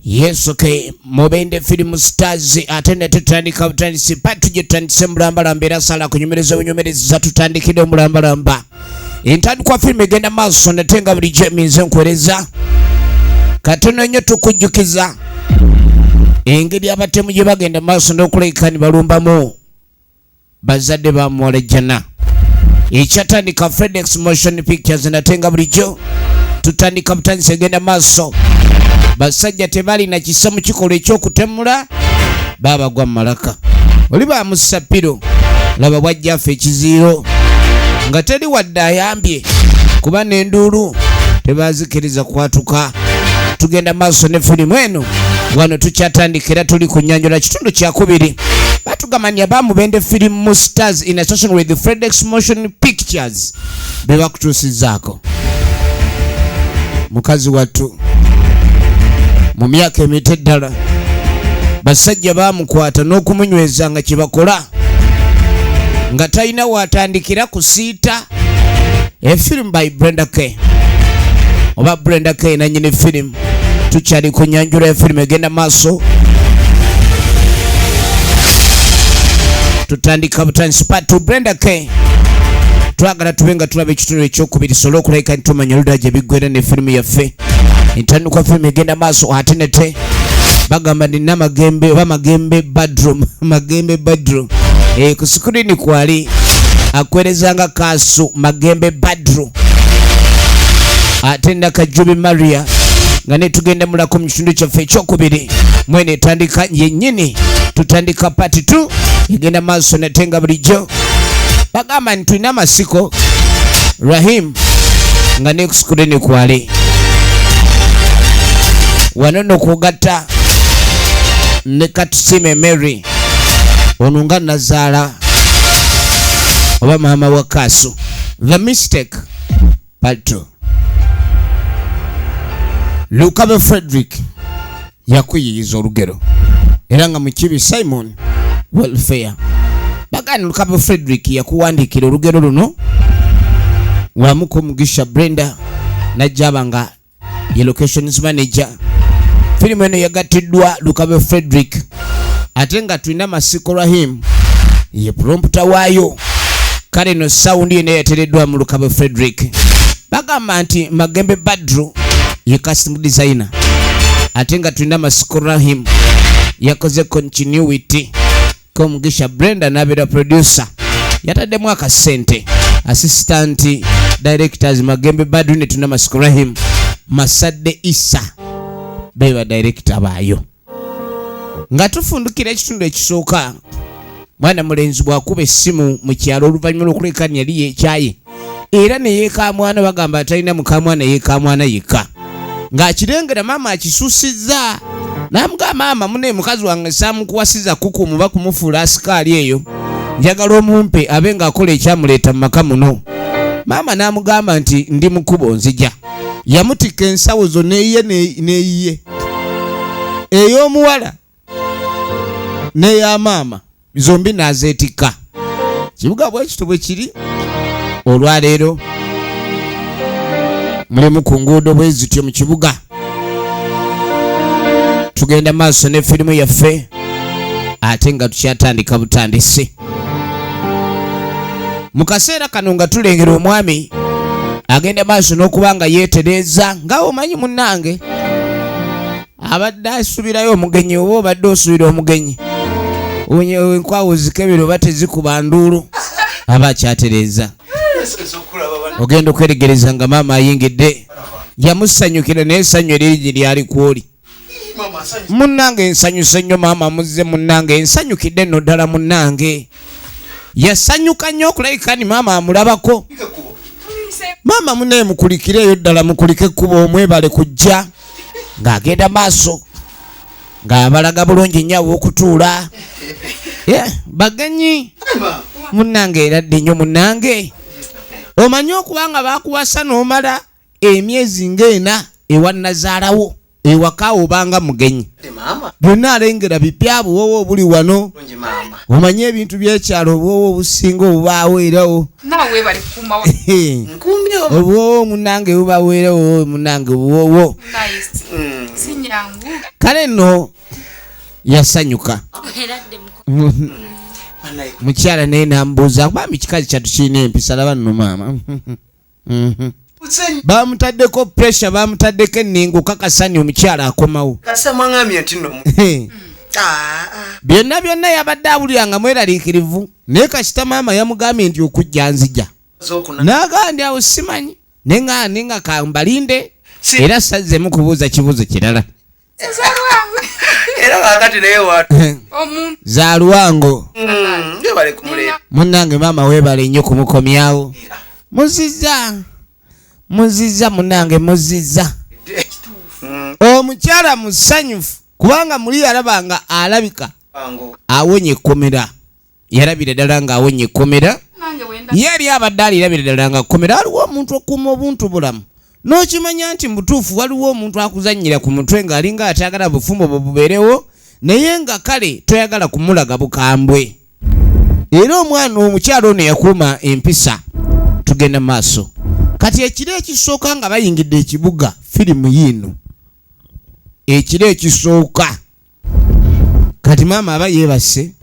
yesu ke mubende film stars ate ne tutandika butandisi pa tugitandise mulambalamba era sala kunyumereza bunyumereza tutandikire omulambalamba entandikwa firimu egenda maaso nate nga bulijjo eminze nkuwereza katono nnyo tukujjukiza engeri abatemu gye bagenda maaso n'okulekani balumbamu bazadde ba muwala jjana ekyatandika fedex motion pictures nate nga bulijjo tutandika butandisi egenda maaso basajja tebalina kisa mu kikolwa ekyokutemula babagwa mumalaka oli bamusapiro laba bwajjafe ekiziiro nga teri wadde ayambye kuba nenduulu tebazikiriza kwatuka tugenda maaso ne firimu eno wano tukyatandika era tuli ku nyanjola kitundu kyakubiri batugamba nti abamubende firimu stars in association with the fredex motion pictures be bakutuusizaako mukazi wattu mu myaka emito eddala basajja bamukwata n'okumunyweza nga kye bakola nga talina waatandikira kusiita A film by Brenda K. Oba Brenda K nanyini film. Tukyali ku nyanjula ya film egenda maaso. Tutandika butandisi part 2 Brenda K. Twagala tube nga tulaba ekitundu ekyokubiri sobola okulabika nti tumanya oluda gye biggwera ne firimu yaffe. entandikwa firimu egenda maaso ate nete bagamba nina magembe oba magembe badroom magembe badroom e, ku sikirini kwali akwerezanga kaasu magembe badroom ate nakajubi maria nga netugenda mulako mu kitundu kyaffe ekyokubiri mwene etandika yenyini tutandika pati t egenda maaso nate nga bulijjo bagamba nti tulina amasiko rahim nga nekusikude nekwale wano nokugatta ne katusime mary ono nga nazaala oba maama wa kaasu the mistake pato lukaba frederick yakuyiyiza olugero era nga mukibi simon welfare bagani lukaba frederick yakuwandiikira olugero luno wamuka omugisha brenda najjaba nga ye locations manager firimu eno yagattiddwa lukabe frederick ate nga tulina masiko rahim ye pulompta waayo kale no sawundi yena yatereddwa mu lukabe frederick bagamba nti magembe badru ye kasitimu designer ate nga tulina masiko rahim yakoze continuity komugisha brenda nabeera producer yataddemu akasente assistant directors magembe badune tuna masiko rahim masadde isa beba director baayo nga tufundukira ekitundu ekisooka mwana mulenzi bwakuba essimu mu kyalo oluvannyuma lwokulekani yali yekyaye era neyekamwana bagamba atalina mukamwana yekamwana yekka ng'akirengera maama akisusizza namuga maama mune mukazi wange samukuwasiza kuku muba kumufuula asikaali eyo njagala omumpe abe ng'akola ekyamuleeta mu maka muno maama n'amugamba nti ndi mukubo nzija yamutikka ensawo zo neye neyiye ey'omuwala neya maama zombi nazeetikka kibuga bwekito bwe kiri olwaleero mulimu ku nguudo bwe zityo mu kibuga tugenda maaso ne firimu yaffe ate nga tukyatandika butandisi mu kaseera kano nga tulengera omwami agenda maaso n'okuba nga yeetereeza nga omanyi munnange abadde asubirayo omugenyi oba obadde osubira omugenyi enkwawo zikebera oba tezikuba nduulu aba akyatereeza ogenda okweregereza nga maama ayingidde yamusanyukira naye essanyu eriri gye lyali kwoli munnange nsanyuse nnyo maama muzze munnange nsanyukidde nno ddala munnange yasanyuka nnyo okulabika ni maama amulabako maama munaye mukulikire eyo ddala mukulike ekkuba omwebale kujja ng'agenda maaso ng'abalaga bulungi nnyo aw'okutuula bagenyi munnange era ddi nnyo munnange omanyi okuba nga bakuwasa n'omala emyezi ng'ena ewa nazaalawo ewaka obanga mugenyi byonna alengera bipya buwowo obuli wano omanye ebintu byekyalo obuwowo obusinga obubaawo erawo obuwowo munange bubaawo erawo munange obuwowo mm. kale nno yasanyuka mukyala naye nambuuza bambi kikazi kyatu kirina empisa laba nno maama Mhm. bamutaddeko pressure bamutaddeko enningo kakasani omukyala akomawo ah, ah. byonna byonna yabadde awulira nga mweraliikirivu naye kasita maama yamugambye nti okujja nzija naagaa ndi awo simanyi ne nga ninga kambalinde era sazzemu kubuuza kibuuzo kirala era kakati naye watu eh. za luwango mm, munange maama webale nnyo kumukomyawo muziza muziza munange muziza mm. omukyala musanyufu kubanga muli yalabanga alabika awonye ekkomera yalabira ddala ng'awonye ekkomera ye yali abadde alirabira ddala nga kkomera waliwo omuntu okuuma obuntu bulamu n'okimanya nti mubutuufu waliwo omuntu akuzannyira ku mutwe ng'alinga atayagala bufumbo bwe bubeerewo naye nga kale toyagala kumulaga bukambwe era omwana omukyalo ono yakuuma empisa tugenda maaso kati ekiro ekisooka nga bayingidde ekibuga firimu yiino ekiro ekisooka kati maama aba yeebase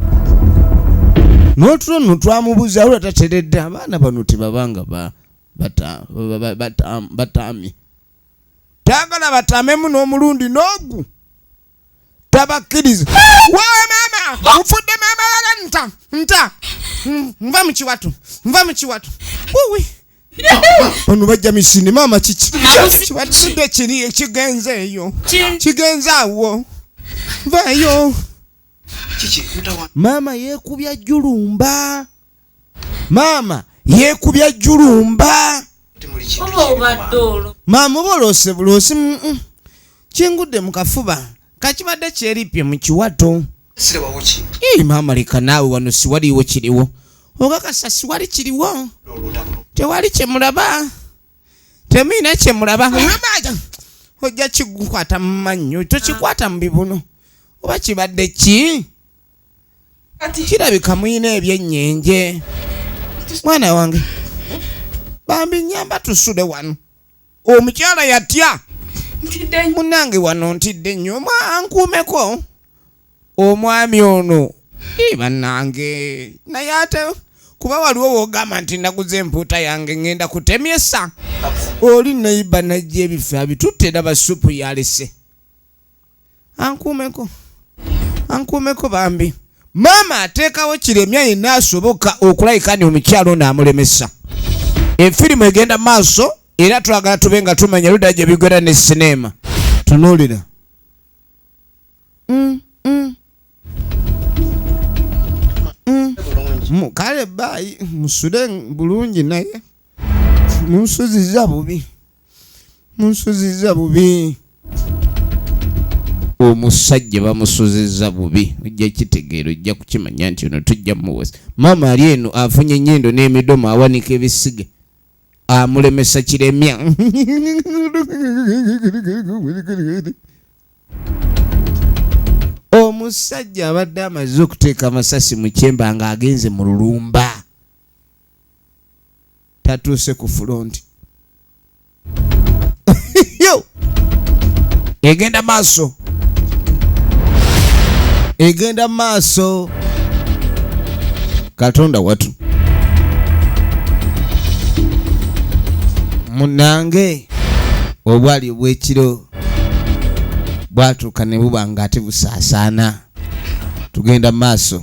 n'otulo nno twamubuza wula tateredde abaana bano tebabanga bataami taagala batamemu n'omulundi n'ogu tabakkiriza wawe maama mufudde maama wala nta nta nva mu kiwatu nva mu kiwatu wuwi bano bajja misini maama kiki kibatudde kiri ekigenze eyo kigenze awo vayo maama yekubya julumba maama yekubya julumba maama oba olose bulosi Kingudde mu kafuba kakibadde kyeripye mu kiwato. Ii maama leka naawe wano siwaliwo kiriwo okakasa siwali kiriwo tewali kyemulaba temuyina kyemulaba amaja ojja kigukwata mu mannyo tokikwata mu bibuno oba kibadde ki kirabika muyina ebyenyenje mwana wange bambi nyamba tusude wano omukyala yatya munange wano ntidde nnyo ankuumeko omwami ono banange naye ate kuba waliwo wogamba nti naguze empuuta yange ngenda kutemyesa oli nayiba najja ebifo abitutte daba supu yalese ankuumeko ankuumeko bambi maama ateekawo kiremya yenna asoboka okulabika ni omukyalo ono amulemesa efirimu egenda maaso era twagala tube nga tumanya ludda gye bigwera ne sineema tunuulira mm, mm. mm. kale baayi musule bulungi naye munsuziza bubi munsuziza bubi omusajja bamusuziza bubi ojja kitegeera ojja kukimanya nti ono tujja muwesa maama ali eno afunye enyendo n'emidomo awanika ebisiga amulemesa kiremya omusajja abadde amaze okuteeka amasasi mu kyemba ng'agenze mu lulumba tatuuse ku fulonti egenda maaso egenda maaso katonda watu munange obwali obwekiro bwatuuka ne buba nga ate busaasaana tugenda maaso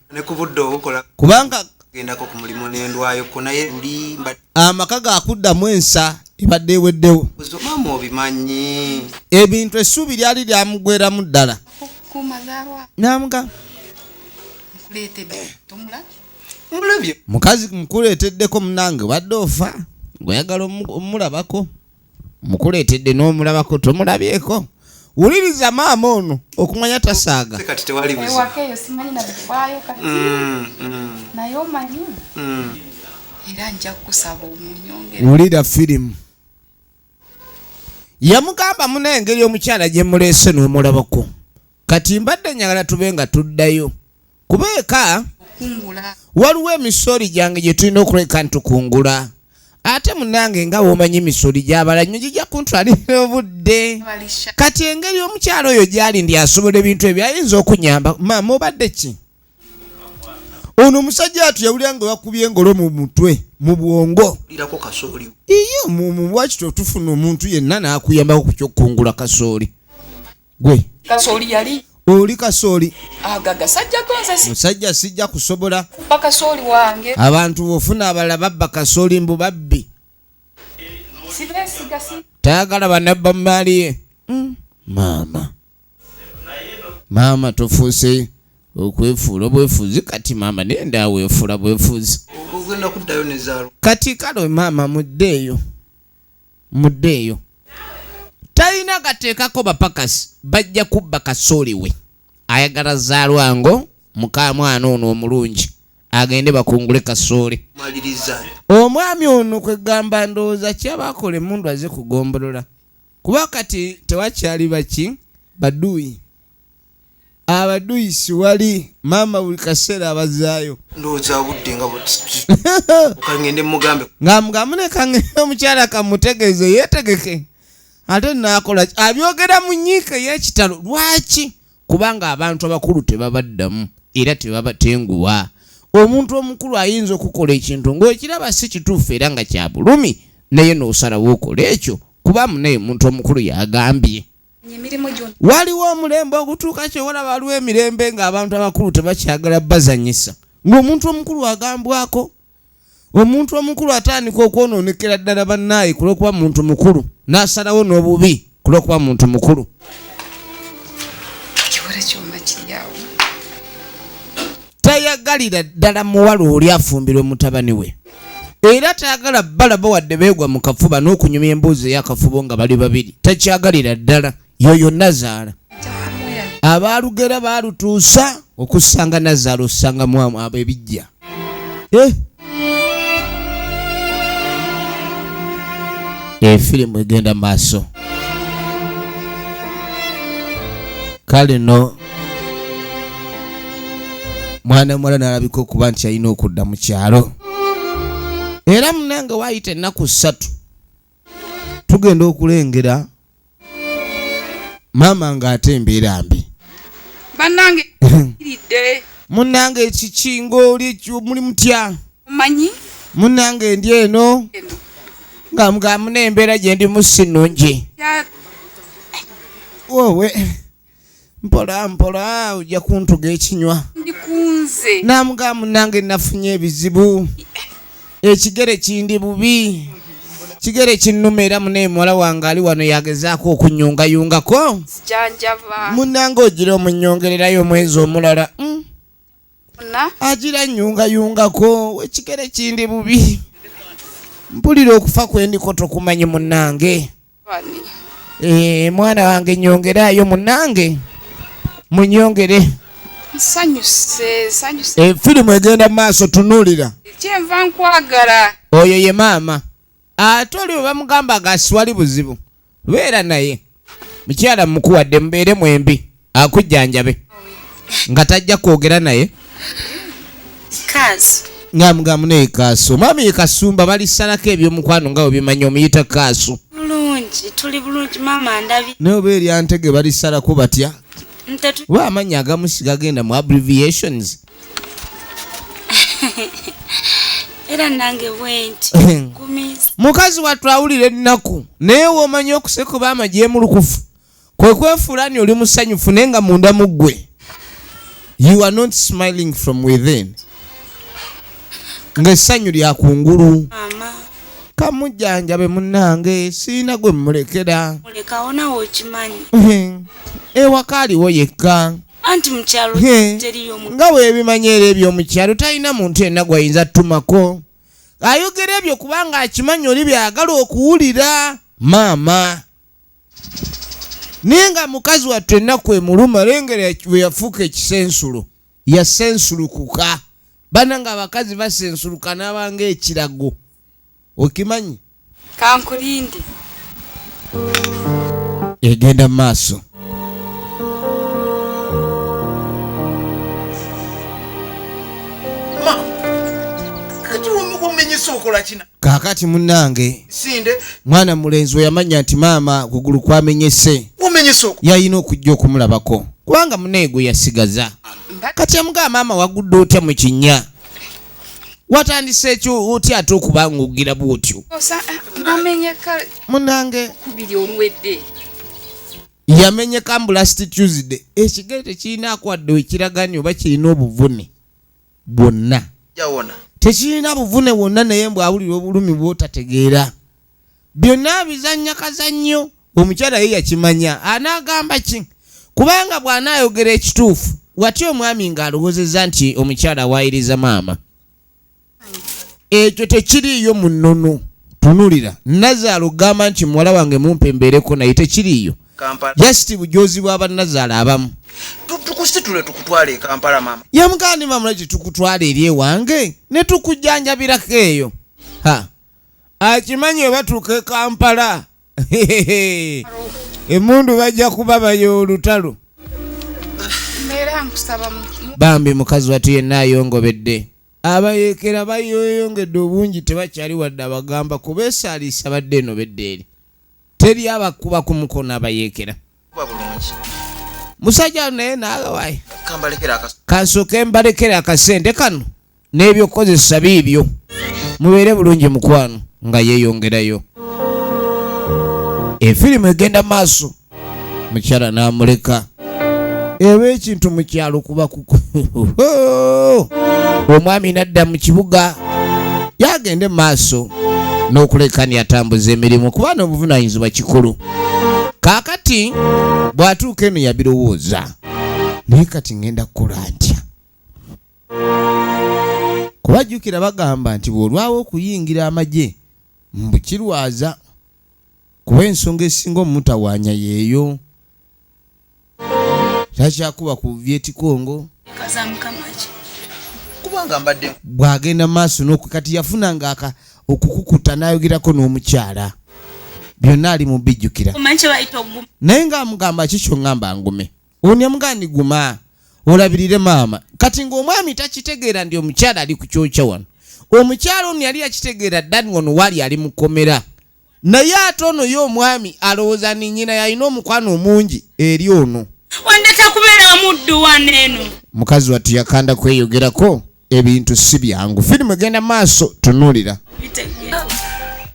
ne ku budde obukola kubanga gendako ku mulimu nendwayo ko naye luli amaka gakuddamu ensa ebadde eweddewo maama obimanyi ebintu essuubi lyali lyamugweramu ddala namuga mukazi mukuleeteddeko munange obadde ofa gweyagala omulabako mukuleetedde n'omulabako tomulabyeko wuliriza maama ono okumanya tasaaga kati tewali buziwakeeyo simanyi nabifaayo kati mm, mm. naye omanyi mm. era nja kukusaba omunyongere wulira firimu yamugamba muna engeri omukyala gye muleese n'omulabako Kati mbadde nyagala tube nga tuddayo kuba eka waliwo emisori gyange gye tulina okuleka ntukungula ate munange nga womanyi emisori gyabala nyo gijja kuntwalira obudde kati engeri omukyalo oyo gyali ndi asobola ebintu ebyo ayinza okunyamba maama obadde ki ono omusajja atu yawulira nga wakubye engolo mu mutwe mu bwongo iyo mumu wakito otufuna omuntu yenna nakuyambako ku kyokukungula kasooli gwe kasooli yali oli kasooli musajja sijja kusobola abantu bofuna abala babba kasooli mbu babbi tayagala banabba mumaali ye mm. maama maama tofuuse okwefuula obwefuuzi kati maama naye ndaaweefuula bwefuuzi kati kale maama muddeeyo muddeeyo talina gateekako bapakasi bajja kubba kasooli we ayagala zaalwango mukamwana ono omulungi agende bakungule kasooli omwami ono kwegamba ndowooza kyabakola emundu aze kugombolola kuba kati tewakyali baki baduuyi abaduyisi wali maama buli kaseera abazaayo ngamugamunekangenda omukyala kamutegeeze yetegeke ate nakola abyogera mu nyiika eyekitalo lwaki kubanga abantu abakulu tebabaddamu era tebabatenguwa omuntu omukulu ayinza okukola ekintu ngaokiraba si kituufu era nga kyabulumi naye nosalawo okola ekyo kuba munaye omuntu omukulu yagambye waliwo omulembe ogutuuka kyewola waliwo emirembe ng'abantu abakulu tebakyagala bazanyisa ng'omuntu omukulu agambwako omuntu omukulu atandika okwonoonekera ddala bannaayi ku lw'okuba muntu mukulu n'asalawo n'obubi ku lw'okuba muntu mukulu tayagalira ddala muwala oli afumbirwe mutabani we era tayagala balaba wadde beegwa mu kafuba n'okunyumya embuuzi eyakafubo nga bali babiri takyagalira ddala yoyo nazaala abaalugera baalutuusa okusanga nazaala osanga mwamu abo ebijja eh? efirimu egenda maaso kale no mwana muwala n'alabika okuba nti yalina okudda mu kyalo era munange waayita ennaku ssatu tugenda okulengera maama ng'ate embeera mbi bannange iridde munange ekikinga oli muli mutya manyi munange ndi eno nga mugamuna embeera gye ndimu si nnungi wowe mpola mpola ojja kuntuga ekinywa namuga munange nafunye ebizibu ekigere kindi bubi kigere kinnuma era munaye muwala wange ali wano yagezaako okunyungayungako munange ogira omunyongererayo omwezi omulala hmm? agira nyungayungako ekigere kindi bubi mpulira okufa kwendiko tokumanyi munange Eh, mwana wange nyongerayo munange munyongere eh, firimu egenda maaso tunulira kyenva nkwagala oyo ye maama ate oli webamugamba gasiwali buzibu beera naye mukyala mukuwadde mubeere mwembi akujjanjabe nga tajja kwogera naye nga mugamu naye kaaso maami ye kasumba balisalako ebyomukwano nga webimanyi omuyita kaaso naye oba eryantege balisalako batya oba amannya agamusi gagenda mu abbreviations era nange bwenti mukazi watwawulira ennaku naye womanyi okusekuba amajemulukufu kwe kwefuula ni oli musanyufu naye nga munda mu ggwe you are not smiling from within ng'essanyu lya kungulu kamujjanjabe munnange siina gwe mmulekera ewaka aliwo yekka anti mukyalo teriyo nga webimanyi era ebyomukyalo talina muntu yenna gwayinza tumako ayogera ebyo kubanga akimanyi oli byagala okuwulira maama naye nga mukazi wattu ennaku emuluma lengera bwe yafuuka ekisensulo yasensulukuka bana nga abakazi basensuluka n'abanga ekirago okimanyi kankulinde egenda mu maaso kati omukuminyisa okola kina kakati munange mwana mulenzi weyamanya nti maama kugulu kwamenyese yalina okujja okumulabako kubanga muneego yasigaza kati amugaa maama wagudde otya mu kinya watandise ekyo otya ate okuba ngaogira bwotyo eh, munange yamenyeka mbu last tuesday ekigere tekirina akwadde wekiragani oba kirina obuvune bwonna tekirina buvune wonna naye mbw awulira obulumi bwotategeera byonna bizannya kazannyo omukyala ye yakimanya anaagamba ki kubanga bw'anaayogera ekituufu wati omwami ng'alowozeza nti omukyala awaayiriza maama ekyo tekiriiyo mu nnono tunulira nazaala okugamba nti muwala wange mumpe mbeereko naye tekiriiyo jasiti bujozi bwa bannazaala abamu tukusitule tukutwale ekampala mama yamugandi mamulaki tukutwala eri ewange ne tukujjanjabirako eyo ha akimanyi webatuuka ekampala emundu bajja kuba bayo olutalo bambi mukazi watu yenna ayongobedde abayekera bayoyongedde obungi tebakyali wadde abagamba kubeesaalisa badde eno bedde eri teri abakuba ku mukono abayeekera musajja naye naagawaye kansooke mbalekere akasente kano n'ebyokukozesa biibyo mubeere bulungi mukwano nga yeeyongerayo efirimu egenda maaso mukyala n'amuleka eba ekintu mu kyalo kuba kuku omwami nadda mu kibuga yagende mu maaso n'okulekani atambuza emirimu kuba n'obuvunanyizibwa kikulu kaakati bw'atuuka eno yabirowooza naye kati ŋenda kukola ntya kubajjukira bagamba nti bw'olwawo okuyingira amagye mbukirwaza kuba ensonga esinga omumutawaanya yeeyo takyakuba ku vyetikongo bwagenda maaso noku kati yafunanga okukukuta nayogerako n'omukyala byonna ali mubijjukira naye nga amugamba kikyo ngamba ngume onemuga ni guma olabirire maama kati ngaomwami takitegeera ndi omukyala ali ku kyokya wano omukyala ono yali yakitegeera dani wano wali ali mukomera naye ate ono ye omwami alowooza ni nyina yalina omukwano omungi eri ono wandeta kubeera muddu waneeno mukazi wattu yakanda kweyogerako ebintu si byangu firimu egenda maaso tunuulira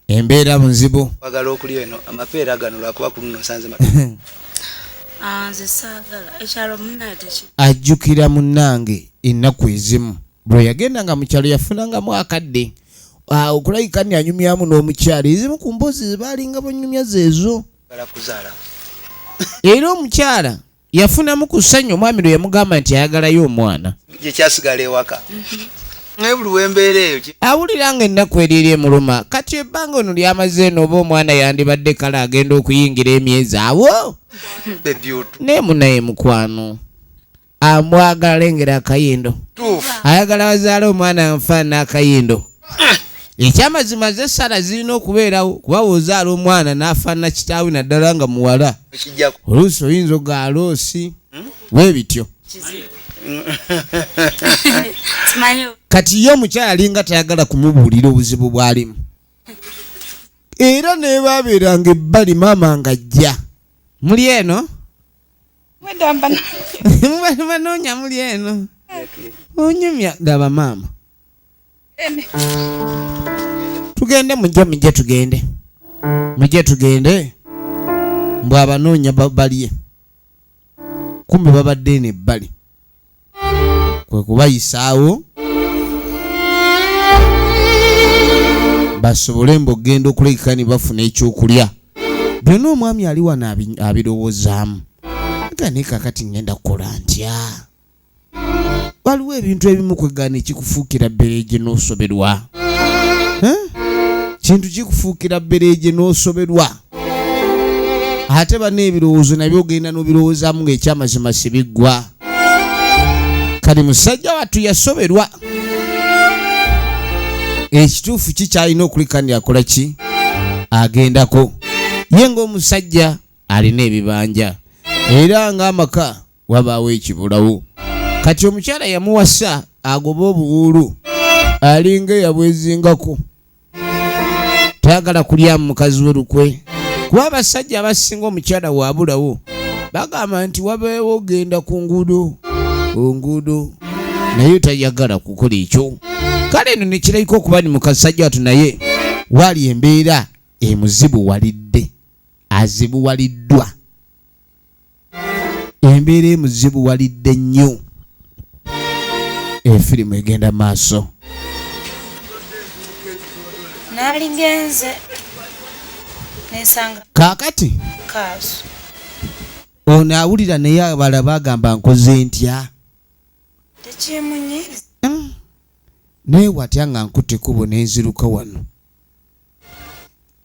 embeera nzibu bagala okulya eno amapeera gano lwakuba ku luno nsanze ah, ajjukira munnange ennaku ezimu bwe yagenda nga mukyalo yafunangamu akadde ah, okulabika ni anyumyamu n'omukyalo ezimu ku mboozi zebaalinga banyumya zeezo era omukyala yafunamu ku ssanyu omwami lwe yamugamba nti ayagalayo omwana gye kyasigala ewaka naye buli wembeera eyo awulira nga ennaku eriri emuluma kati ebbanga ono lyamaze eno oba omwana yandibadde kale agenda okuyingira emyezi awo naye munaye mukwano amwagala lengera akayindo ayagala bazaala omwana nfaana akayindo ekyamazima ze sala zirina okubeerawo kuba wozaala omwana n'afaanana kitaawe naddala nga muwala oluusi oyinza ogaala osi we bityo kati ye omukyala alinga tayagala kumubuulira obuzibu bwalimu era nebabeeranga ebbali maama nga ajja muli eno banoonya muli eno onyumya gaba maama tugende mujje mujje tugende mujje tugende mbw abanoonya balye kumbe babadde eno ebbali kwe kubayisaawo basobole mbu okugenda okulekeka ne bafuna ekyokulya byonna omwami ali wano abirowozaamu gane kakati ngenda kukola ntya waliwo ebintu ebimu kwegana ekikufuukira bbereegye n'osoberwa kintu kikufuukira bbereegye n'osoberwa ate bana ebirowoozo nabyo ogenda n'obirowoozamu ng'ekyamazima sibiggwa kati musajja wattu yasoberwa ekituufu kikyalina okulikani akola ki agendako ye ng'omusajja alina ebibanja era ng'amaka wabaawo ekibulawo kati omukyala yamuwasa agoba obuwuulu alinga eyabwezingako tayagala kulyamu mukazi we lukwe kuba abasajja abasinga omukyala waabulawo bagamba nti wabeewo ogenda ku nguudo onguudo naye tayagala kukola ekyo kale eno nekirabika okuba ni mukasajja watu naye waali embeera emuzibuwalidde azibuwaliddwa embeera emuzibu walidde nnyo efirimu egenda maaso naligenze nesanga kakati kaaso ono awulira naye abala bagamba nkoze ntya tekyemunyiza hmm. naye watya nga nkutte kubo nenziruka wano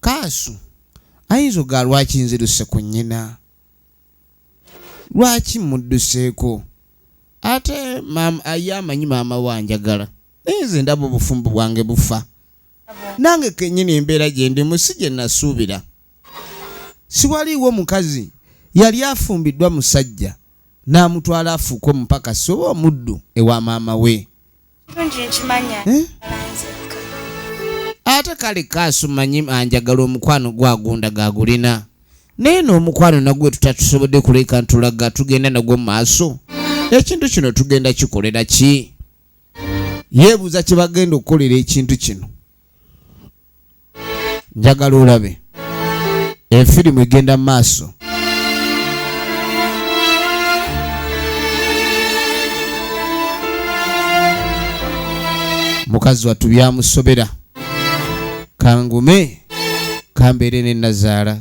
kaasu ayinza ogaa lwaki nziruse ku nnyina lwaki mudduseeko ate ye amanyi maama we anjagala naye nze ndaba obufumbo bwange bufa nange kenyini embeera gye ndimu si gye nasuubira siwaliiwo mukazi yali afumbiddwa musajja n'amutwala afuuke omupakasi oba omuddu ewa maama we ate kale kaasu manyi anjagala omukwano gwagunda gagulina naye n'omukwano nagwe tutatusobodde kuleka ntulaga tugenda nagwo mu maaso ekintu kino tugenda kikolera ki yeebuuza kye bagenda okukolera ekintu kino njagala olabe efirimu egenda maaso mukazi wattu byamusobera kangume kambeere ne nazaala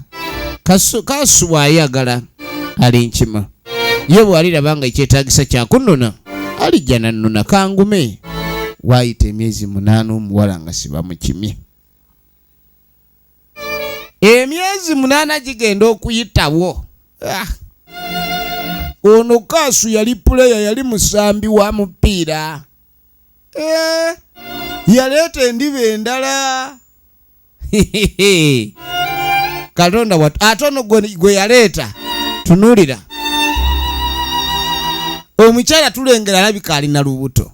kasubwa ayagala ali nkima ye bw'aliraba nga ekyetaagisa kyakunnona alijja nannona kangume waayita emyezi munaana omuwala nga sibamukimye emyezi munaana gigenda okuyitawo ah. ono kaasu yali puleya yali musambi wa mupiira eh. yaleeta endiba endala katonda watu ate ono gwe yaleeta tunulira omukyala tulengera alabika alina lubuto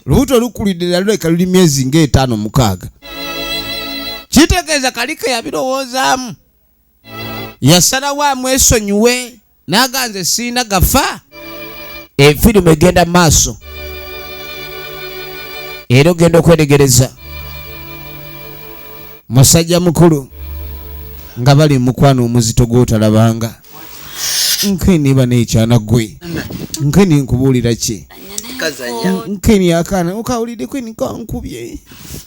lubuto lukulidde naluleka luli myezi ngaetaano mukaaga kitegeeza kalike yabirowoozaamu yasalawo amwesonyiwe naga nze siina gafa efirimu egenda mu maaso era ogenda okwetegereza musajja mukulu nga bali mukwano omuzito gwotalabanga nkeni bana ekyana gwe nkeni nkubuulira ki nkeni akaana okawulidde kweni kankubye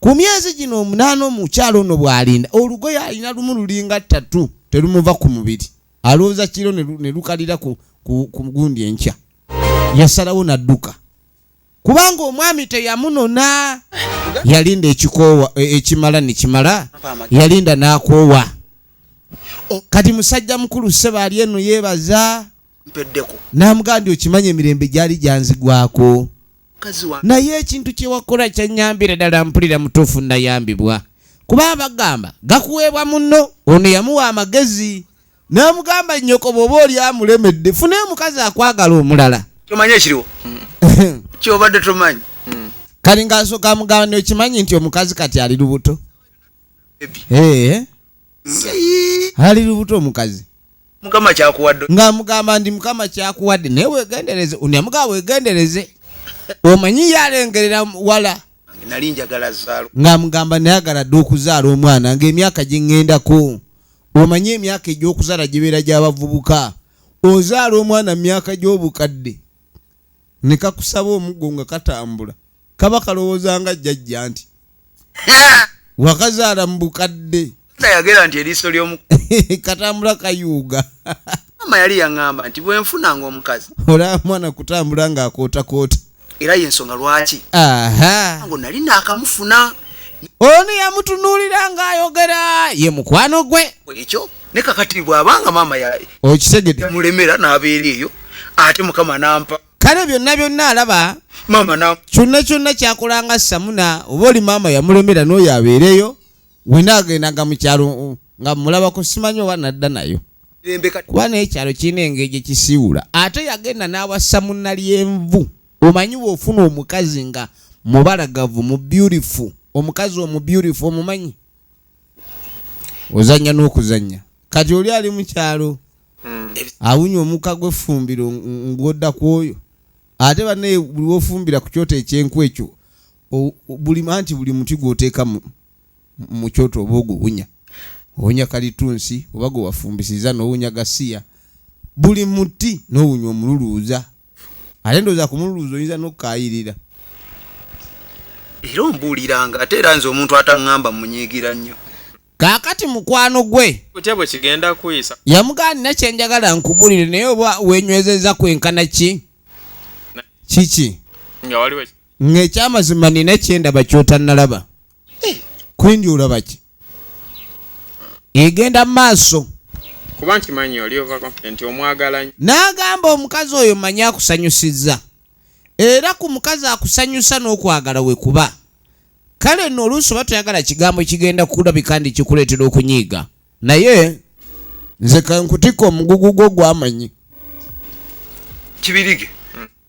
ku myezi gino omunaana omukyalo ono bw'alinda olugoye alina lumu lulinga ttatu terumuva ku mubiri alowooza kiro ne lukalira ku gundi enkya yasalawo n'adduka kubanga omwami teyamunona yalinda ekikoowa e, ekimala ne kimala yalinda n'akoowa kati musajja mukulu sseba ali eno yeebaza n'amugamba nti okimanyi emirembe gyali gyanzigwako naye ekintu kyewakola kyanyambira ddala mpulira mutuufu nayambibwa kuba abagamba gakuweebwa muno ono yamuwa amagezi namugamba nyoko bwoba oli amulemedde fune omukazi akwagala omulala tomanyi ekiriwo kyobadde tomanyi hmm. kali ngaasooka amugamba nokimanyi nti omukazi kati ali lubuto eh, eh. ali lubuto omukazi mukama kyakuwadde nga mugamba ndi mukama kyakuwadde naye wegendereze unamugaa wegendereze omanyi yalengerera wala nali njagala zaalo nga mugamba nayagala dde okuzaala omwana ngaemyaka gyeŋŋendako omanyi emyaka egy'okuzaala gibeera gy'abavubuka ozaala omwana mu myaka gy'obukadde ne kakusaba omuggo nga katambula kaba kalowooza nga jjajja nti wakazaala mu bukadde yagera nti eriiso ly'omu katambula kayuuga maama yali yaŋŋamba nti bwe nfunanga omukazi olaba mwana kutambula ng'akootakoota era y'ensonga lwaki ngo nali naakamufuna ono yamutunuulira ng'ayogera ye mukwano gwe ekyo ne kakati bwabanga maama okitegedde mulemera n'abeera eyo ate mukama nampa kale byonna byonna alaba maama na kyonna kyonna kyakolanga samuna oba oli maama yamulemera n'oyo abeereyo wena agendanga mu kyalo nga mulabako simanyi oba nadda nayo kuba naye ekyalo kirina engeri gye kisiiwula ate yagenda n'awassa munna lyenvu omanyi bw'ofuna omukazi nga mubalagavu mu beautiful omukazi omu beautiful omumanyi ozanya n'okuzanya kati oli ali mukyalo hmm. awunya omuka gwefumbiro ng'odda ku oyo ate banaye buli wofumbira ku kyoto ekyenku ekyo buli anti buli muti gwoteeka mu kyoto oba oguwunya owunya kalitunsi oba gwewafumbisiza nowunya gasiya buli muti nowunya omululuuza Ate ndowooza ku mululuuza oyinza n'okukaayirira. Era ombuuliranga ate era nze omuntu ataŋŋamba mmunyiigira nnyo. Kaakati mukwano gwe. Otya bwe kigenda kuyisa? Yamugamba, Nnina kye njagala nkubuulire, naye oba weenywezezza kwenkana ki? Kiki? Nga waliwo. Nga eky'amazima nnina kye ndaba ky'otannalaba. Kwendi olaba ki? egenda mu maaso kuba nkimanyi oli ova confident omwagala n'agamba omukazi oyo manyi akusanyusizza era ku mukazi akusanyusa n'okwagala we kuba kale nno oluusi oba toyagala kigambo kigenda kulabika ndi kikuleetera okunyiiga naye nze kankutikka omugugu gwo gwamanyi kibirige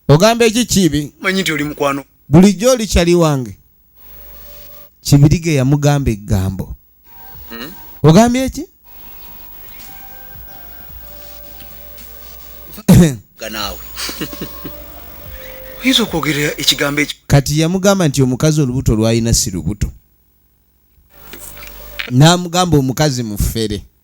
ogamba eki kibi manyi nti oli mukwano bulijjo oli kyali wange kibirige yamugamba egambo hmm? ogambye eki ganawe oyinza okwogerera ekigambo ekyo kati yamugamba nti omukazi olubuto lwalina si lubuto n'amugamba omukazi mufere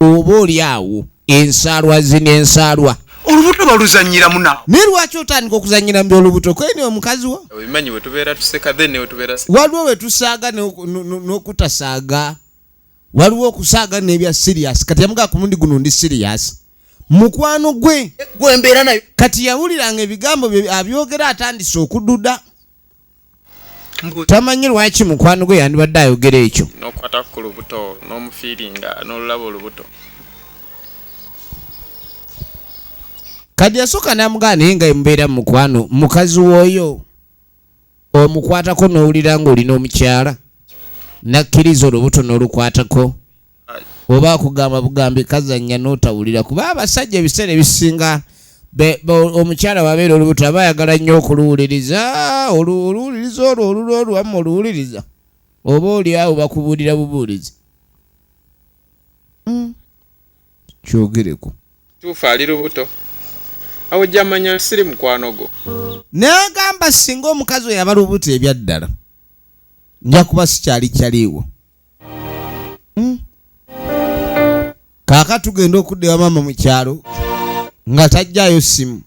oba oli awo ensaalwa zino ensaalwa olubuto baluzanyiramu nawe naye lwaki otandika okuzanyira mbi olubuto kwene omukazi wo obimanyi wetubeera tuseka then newetubeera waliwo wetusaaga n'okutasaaga waliwo okusaaga n'ebya sirias kati yamugaa ku mundi guno ndi sirias mukwano gwe gwembeera nayo kati yawuliranga ebigambo bye abyogera atandise okududa tamanyi lwaki mukwano gwe yandibadde ayogera ekyo nokwata ku lubuto n'omufiiringa n'olulaba olubuto kati yasooka namugaa naye nga emubeera mu mukwano mukazi wooyo omukwatako n'owulira ng'olina omukyala nakkiriza olubuto n'olukwatako oba akugamba bugambi kazanya notawulira kuba abasajja ebiseera ebisinga omukyala wabeera olubuto aba ayagala nnyo okuluwuliriza oluwuliriza olwo olulwo oluwamu oluwuliriza oba oli awo bakubuulira bubuulizi hmm. kyogereko tuufu ali lubuto awo jamanya siri mukwano gwo nagamba singa omukazi oyo aba lubuto ebyaddala nja kuba sikyali kyaliiwo hmm. kaaka tugenda okudda ewa maama mu kyalo nga tajjayo simu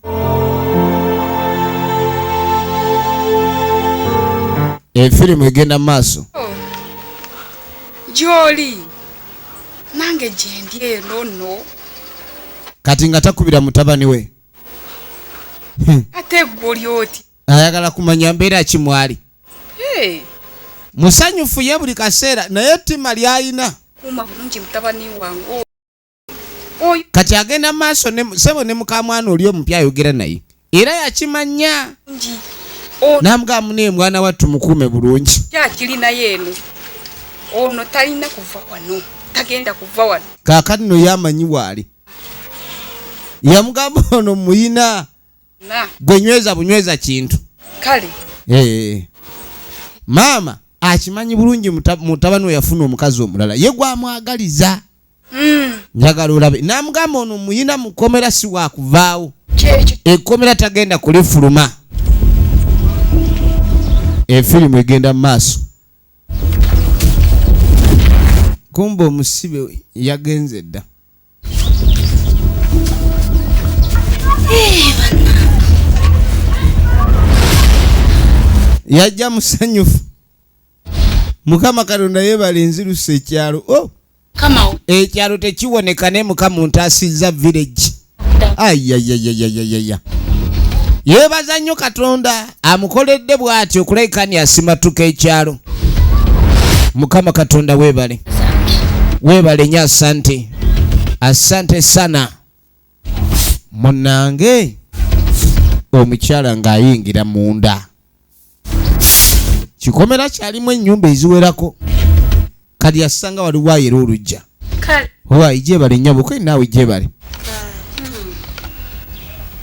efirimu egenda mu maaso oh. gyoli nange gyendi eno no kati nga takubira mutabani we hmm. ate gwe oli oti ayagala kumanya mbeera ki mwali hey. musanyufu ye buli kaseera naye ttima lyayina kati agenda maaso sebo ne mukamwana oli omupya ayogera naye era yakimanya namugamu naye mwana wattu mukuume bulungi ono talina kuva wano tagenda kuva wano kakati no yamanyi waali yamugamba ono muyina gwe nyweza bunyweza kintu kale eh. maama akimanyi bulungi mutabani we yafuna omukazi omulala ye gwamwagaliza hmm. njagala olabe namugamba ono muyina mukomera si wakuvaawo ekomera tagenda kulifuluma efirimu egenda mu maaso kumba omusibe yagenze dda yajja musanyufu mukama katonda yebale nzirusa ekyalo o oh! ekyalo tekiwoneka ne mukama ntasizza village ayayayayayaya yebaza nnyo katonda amukoledde bwati okulekani asimatuka ekyalo mukama katonda webale webale nyo asante asante sana munange omukyala ng'ayingira munda kikomera kyalimu ennyumba eziwerako kati yasanga waliwo ayera olujja owa ijebale nyabo kwe naawe ijebale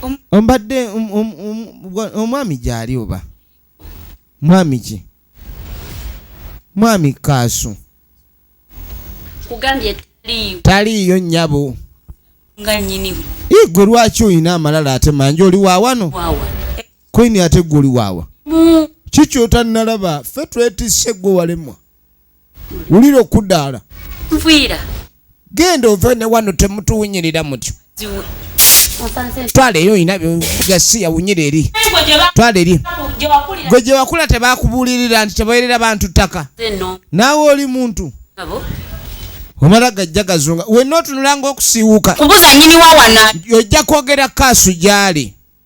hmm. ombadde um, um, um, omwami gyali oba mwami ki mwami kaasu taliiyo nyabo igwe lwaki olina amalala ate manje oli wawano kwini ate gwe oli wawa kikyotanalaba fe twetisse gwe walemwa wulira okudaala nviira genda ove ne wano temutuwunyirira mutyo twala eri olina gasiya wunyira eri twala eri gwe gye wakula tebakubuulirira nti tebawerera bantu ttaka naawe oli muntu omala gajja gazunga wenna otunulanga okusiiwuka ojja kwogera kaasu gyali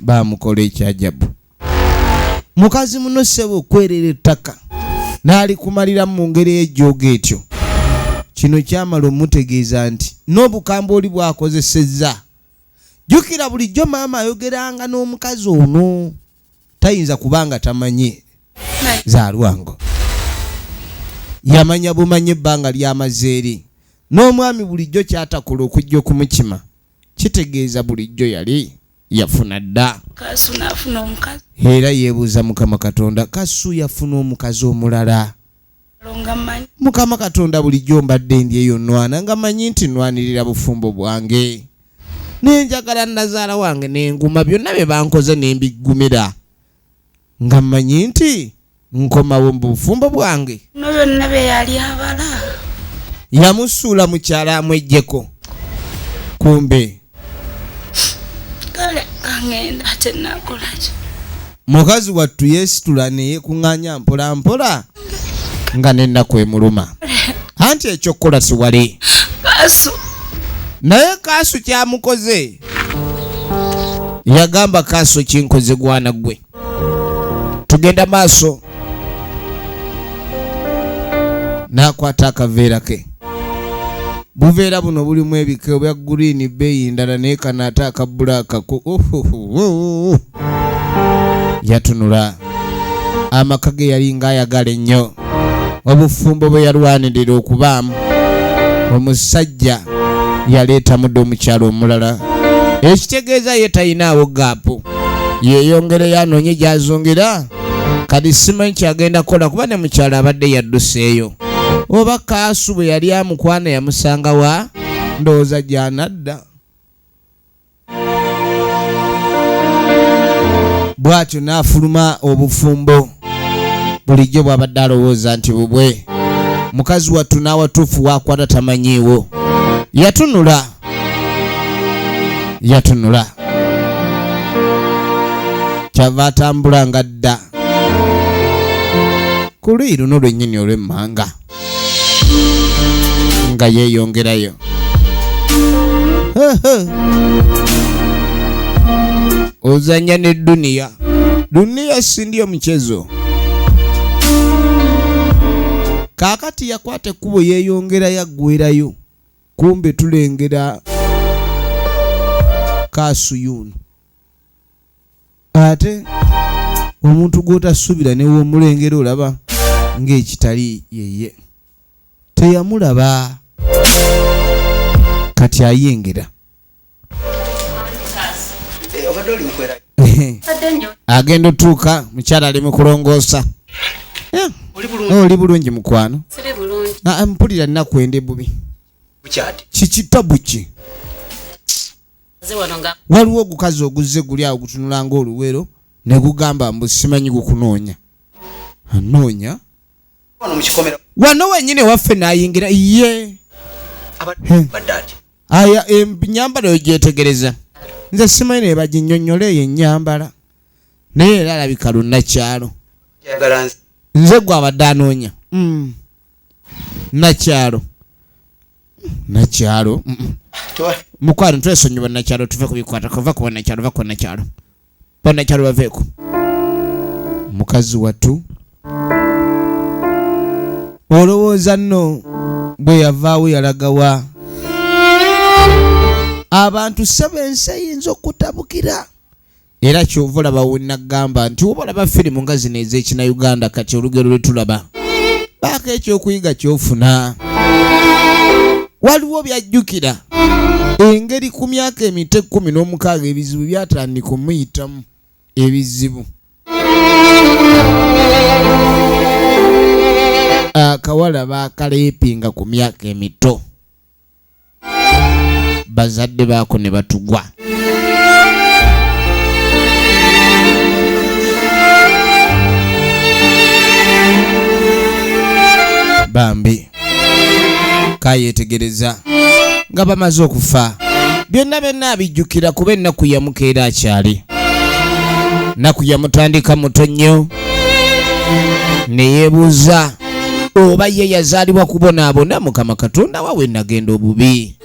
baamukola ekyajabu mukazi muno ssebo okwerera ettaka n'alikumaliramu mu ngeri ejjooga etyo kino kyamala omutegeeza nti n'obukambwe oli bwakozesezza jjukira bulijjo maama ayogeranga n'omukazi ono tayinza kuba nga tamanyi za lwango yamanya bumanya ebbanga lyamazeeri n'omwami bulijjo kyatakola okujja okumukima kitegeeza bulijjo yali yafuna dda kasu nafuna omukazi era yebuuza mukama katonda kasu yafuna omukazi omulala mukama katonda bulijjo mbadde ndi eyo nwana nga manyi nti nwanirira bufumbo bwange nenjagala nazaala wange nenguma byonna bye bankoze nembiggumira nga mmanyi nti nkomawo mu bufumbo bwange no byonna bye yali abala yamusuula mukyala amwejjeko kumbe kale kangenda ate nakolaki mukazi wattu yeesitula ne yeekuŋŋaanya mpolampola nga n'ennaku emuluma anti ekyokukola siwali naye kaasu kyamukoze yagamba kaasu kinkoze gwana gwe tugenda maaso n'akwata akaveera ke buveera buno bulimu ebika obya green beeyi ndala naye kano ate akabbulaaka yatunula amaka ge yali ng'ayagala ennyo obufumbo bwe yalwanirira okubaamu omusajja yaleeta mudde omukyalo omulala ekitegeeza ye talinaawo gaapu yeeyongereyo anoonye gy'azungira kati simanyi kyagenda kukola kuba ne mukyalo abadde yadduseeyo oba kaasu bwe yali amukwana yamusanga wa ndowooza gyanadda bw'atyo n'afuluma obufumbo bulijjo bw'abadde alowooza nti bubwe mukazi wattu n'awatuufu waakwata tamanyiiwo yatunula yatunula kyava atambula nga dda ku luyi luno lwennyini olw'emmanga nga yeeyongerayo ozanya ne duniya duniya sindi omuchezo kaakati yakwata ekkubo yeeyongera yaggwerayo kumbe tulengera kasuyuno ate omuntu gw'otasubira newomulengera olaba ng'ekitali yeye teyamulaba kati ayengera agenda otuuka mukyala ali mukulongoosa eh, oli bulungi mukwano ah, ah, mpulira nnaku ende bubi kikitabu ki waliwo ogukazi oguzze guli awo gutunula nga oluwero ne gugamba mbu simanyi gukunoonya anoonya wano wenyini waffe nayingira ye aya enyambala eyo gyetegereza nze simanyi naye baginyonyola eyo enyambala naye era alabika lunakyalo nze gwe abadde anoonya hmm. nakyalo nakyalo mukwano twesonyiwa nakyalo tuve kubikwata kuva kuba nakyalo va kuba nakyalo banakyalo baveeko mukazi wattu olowooza nno bwe yavaawo yalagawa abantu sebo ensi eyinza okutabukira era kyova olaba wenagamba nti oba olaba firimu nga zino ez'ekinauganda kati olugero lwe tulaba baako ekyokuyiga kyofuna waliwo byajjukira engeri ku myaka emito ekkumi n'omukaaga ebizibu byatandika omuyitamu ebizibu akawala bakaleepinga ku myaka emito bazadde baako ne batugwa bambi kayetegereza nga bamaze okufa byonna byonna abijjukira kuba ennaku yamukeera akyali nnaku yamutandika muto nnyo ne yeebuuza oba ye yazaalibwa kubonaabona mukama katonda wawe nagenda obubi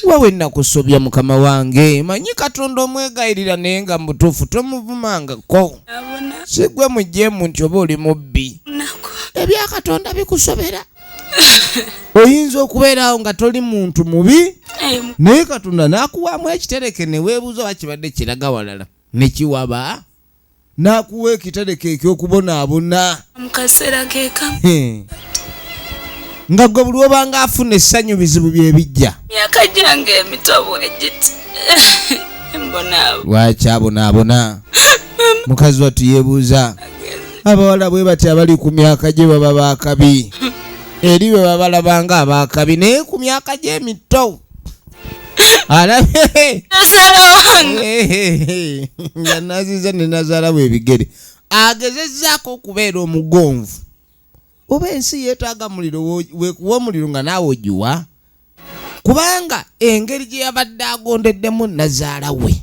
wawe nakusobya mukama wange manyi katonda omwegayirira naye nga mubutuufu tomuvumangako sigwe mujemu nti oba oli mubbi ebya katonda bikusobera oyinza okubeeraawo nga toli muntu mubi naye katonda nakuwaamu ekitereke neweebuuza oba kibadde kiraga walala nekiwaba n'akuwa ekitereko eky'okubonaabona mu kaseera keka nga gwe buli obanga afuna essanyu bizibu bye bijja myaka gyange emitobo egiti lwaki abonaabona mukazi wattu yeebuuza abawala bwe bati abali ku myaka gye baba baakabi eri bwe babalabanga abaakabi naye ku myaka gy'emitto alabye nazaala wange Hey, hey, hey. nga naziza ne nazalawo ebigere agezezaako okubeera omugonvu oba ensi yeetaaga muliro wo- wekuwa omuliro nga naawe ogiwa kubanga engeri gye yabadde agondeddemu nazaala we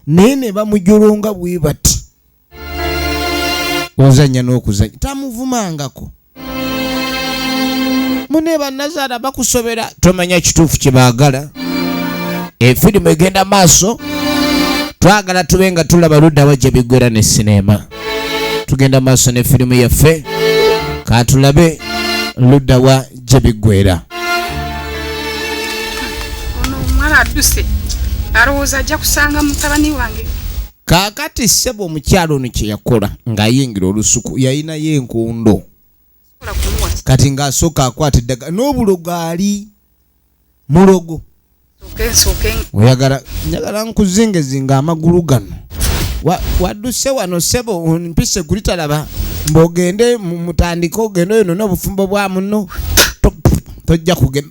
naye ne bamujolonga bwe bati ozanya n'okuzanya tamuvumangako mune banazaala bakusobera tomanya kituufu kyebaagala efirimu egenda maaso twagala tube nga tulaba ludda wajja biggwera ne sineema tugenda maaso ne firimu yaffe katulabe ludda wa gye biggwera ono omwana adduse alowooza ajja kusanga mutabani wange kaakati ssebo omukyalo ono kye yakola ng'ayingira olusuku yalinayo enkondo kati ng'asooka akwata eddagala n'obulogo ali mulogo oyagala njagala nkuzingezinga amagulu gano wadduse wano sebo mpise kulitalaba mbogende mutandike ogende oyo nona obufumbo bwa muno tojja kugenda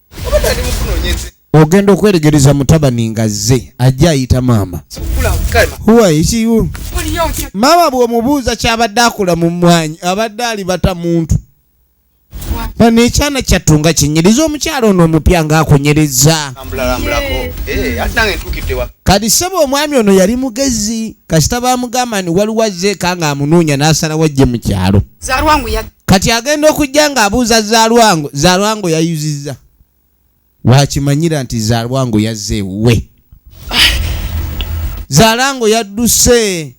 ogenda okweregereza mutabani nga zze ajja ayita maama maama bw'omubuuza kyabadde akula mu mmwanyi abadde alibata muntu bano ekyana kyattu nga kinyiriza omukyalo ono omupya ng'akunyiriza eh, kati saba omwami ono yali mugezi kasita bamugamba ni waliwo azzeeka ng'amunoonya n'asalawo ajje mu kyalo kati agenda okujja ng'abuuza zalwango zalwango yayuzizza wakimanyira nti zalwango yazze ewuwe zalwango yadduse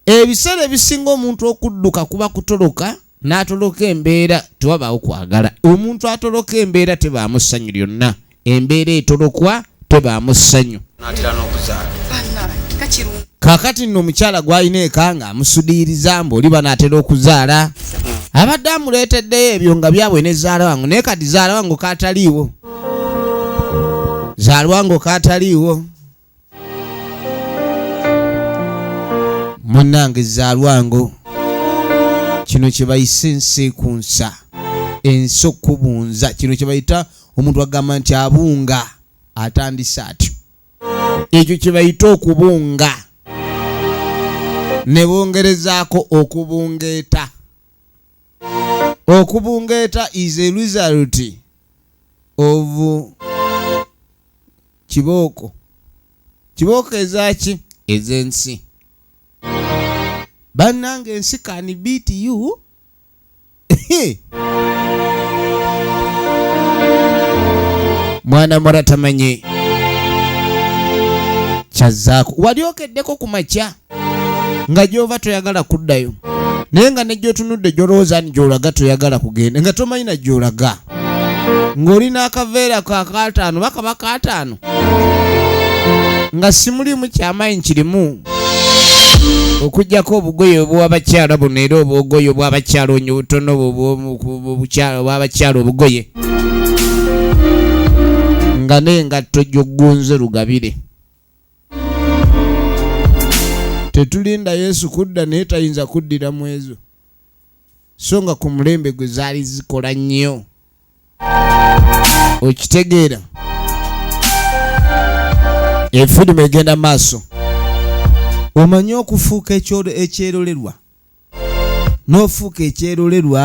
ebiseera ebisinga omuntu okudduka kuba kutoloka n'atoloka embeera tewabaawo kwagala omuntu atoloka embeera tebaamu ssanyu lyonna embeera etolokwa tebaamu ssanyu kakati nno omukyala gwalina eka nga amusudiiriza mbu oli banaatera okuzaala hmm. abadde amuleeteddeyo ebyo nga byabwe ne zaala wangu naye kati zaala wangu kataliiwo zaalwango kataliiwo munange zalwango kino kyebayise ensi ku nsa ensi okubunza kino kyebayita omuntu agamba nti abunga atandise atyo ekyo kyebayita okubunga ne bongerezaako okubungeeta okubungeeta is a result of kibooko kibooko ezaki ezensi bannange ensi kani beat you mwana mura tamanyi kyazzaako wali okeddeko ku makya nga gyova toyagala kuddayo naye nga negyotunudde gyolowooza ni gyolaga toyagala kugenda nga tomanyi na gyolaga ng'oli n'akaveera ka kaataano bakaba kaataano nga simulimu kyamayi nkirimu okujjako obugoye obwabakyala buno era obwogoye obwabakyala onyo butono obwabakyala obugoye nga nengatto gyogunze lugabire tetulinda yesu kudda naye tayinza kuddira mu ezo so nga ku mulembe gwe zaali zikola nnyo okitegeera efirimu egenda maaso omanyi okufuuka ekyerolerwa n'ofuuka ekyerolerwa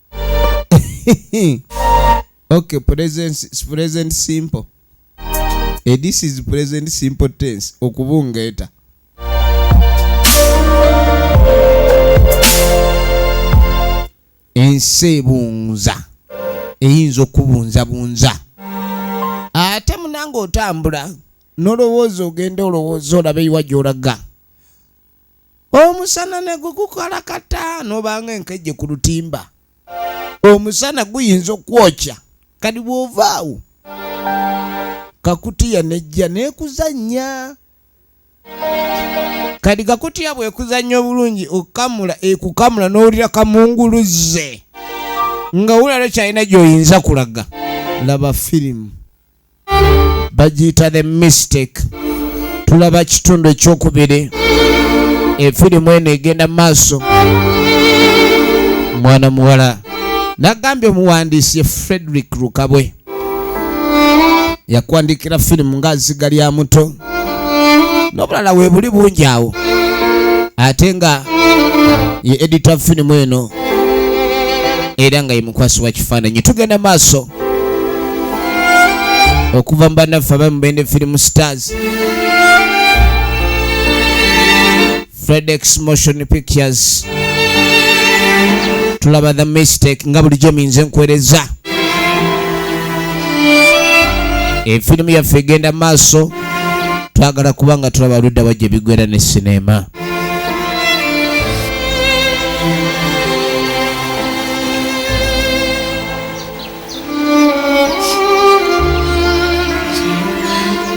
okay present present simple e this is present simple tense okubungeeta ensi ebunza eyinza okubunzabunza ate munanga otambula nolowooza ogenda olowooza olabe iwa gyolaga omusana ne gukukola kata nobanga enkejje ku lutimba omusana guyinza okwokya kati bwovaawo kakutiya nejja nekuzannya kati kakutiya bwekuzannya obulungi okukamula ekukamula n'owulira kamunguluzze nga wulala kyalina gyoyinza kulaga laba firimu bagiyita the mistake tulaba kitundu ekyokubiri efirimu eno egenda maaso mwana muwala nagambye omuwandiisi ye frederick rukabwe yakwandikira firimu nga ziga lya muto n'obulala webuli bungi awo ate nga ye edita firimu eno era nga ye mukwasi wa kifaananyi tugenda maaso okuva mu bannaffe abali mu bende film stars fredex motion pictures tulaba the mistake nga bulijjo minze nkuwereza efirimu yaffe egenda maaso twagala kuba nga tulaba ludda wajja ebigwera ne sineema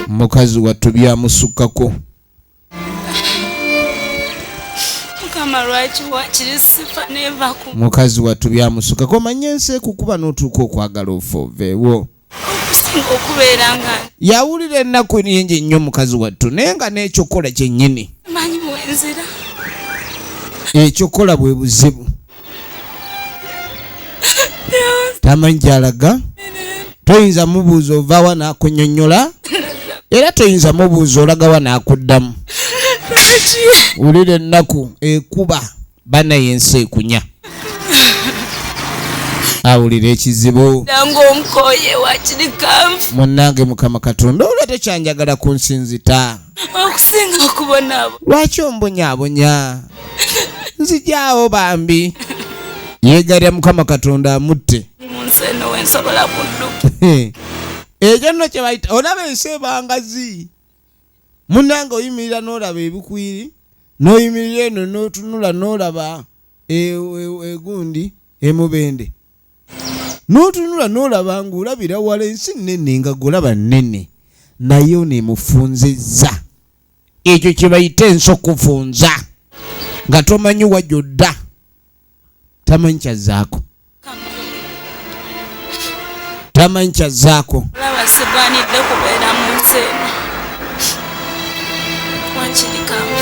mukazi wattu byamusukkako mukazi wattu byamusukako omanye ensi ekukuba n'otuuka okwagala ofooveewo yawulira ennaku nyingi nnyo mukazi wattu naye nga n'ekyokukola kyennyini ekyokukola bwe buzibu tamanyi gyalaga toyinza mubuuza ovaawa nakunyonyola era toyinza mubuuza olagawa nakuddamu wulira ennaku ekuba banaye ensi ekunya awulira ekizibu munange mukama katonda olwa tekyanjagala kunsinzita okusinga okubonaabo lwaki ombonyabonya nzijaawo bambi yeegalira mukama katonda amutte ekyo nno kyebayita olaba ensi ebangazi munange oyimirira n'olaba ebikwiri n'oyimirira eno n'otunula n'olaba egundi e, e, e, emubende n'otunula n'olaba ng'olabira wala ensi nnene nga golaba nnene naye ono emufunzizza ekyo kye bayita ensi okufunza nga tomanyi wajodda tamanyi kyazzaako tamanyi kyazzaako olaba sigwanidde kubeera mu nsi eno wakirikamu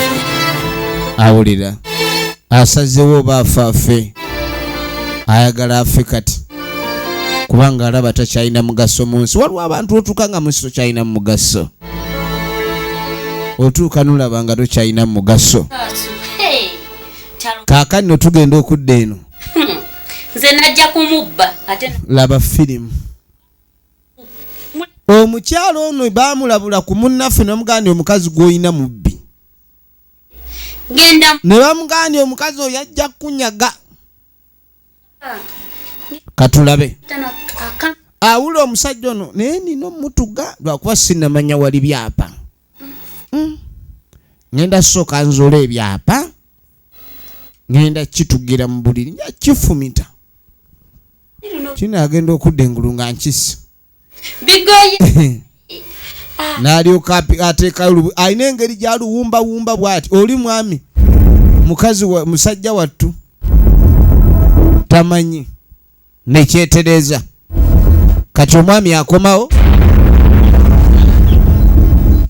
awulira asazewo oba afa afe ayagala afe kati kubanga alaba takyalina mugaso mu nsi waliwo abantu otuuka nga munsi tokyalina mugaso otuuka nolaba nga tokyalina mugaso kaakani no tugenda okudda eno hmm. nze najja kumubba ate laba firimu omukyalo ono bamulabula ku munnaffe nomuganda omukazi gwolina mubbi genda ne bamugambye omukazi oyo ajja kunyaga katulabe awula omusajja ono naye nina omutuga lwakuba sinamanya wali byapa hmm. ngenda sooka nzula ebyapa ngenda kitugira mu buliri nja kifumita kino agenda okudda engulu nga nkisi bigoye ah. nalyoka ateekayo alina engeri gyaluwumbawumba bwati oli mwami mukazi wa musajja wattu tamanyi nekyetereza kati omwami akomawo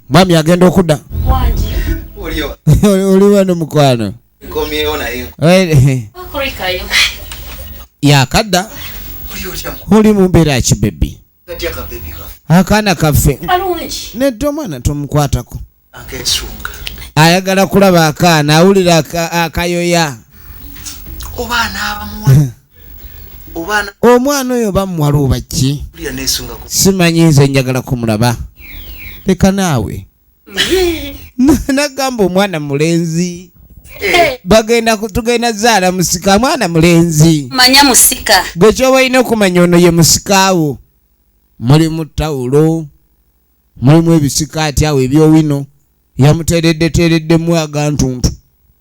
mwami agenda okudda oli wano mukwano nkomyewo naye eh, okurikayo yakadda oli otya oli mu mbeera ki bebi katya ka bebi kafe akaana kaffe kalungi nedda omwana tomukwatako akesunga ayagala kulaba akaana awulira aka- akayoya oba anaabamuwa oba ana omwana oyo bamuwala oba ki kulira nesunga ku simanyi nze njagala kumulaba leka naawe nagamba omwana mulenzi eh. bagenda tugenda zaala musika mwana mulenzi manya musika gwe kyoba olina okumanya ono ye musikaawo mulimu tawulo mulimu ebisika ati awo ebyowino yamutereddetereddemu agantuntu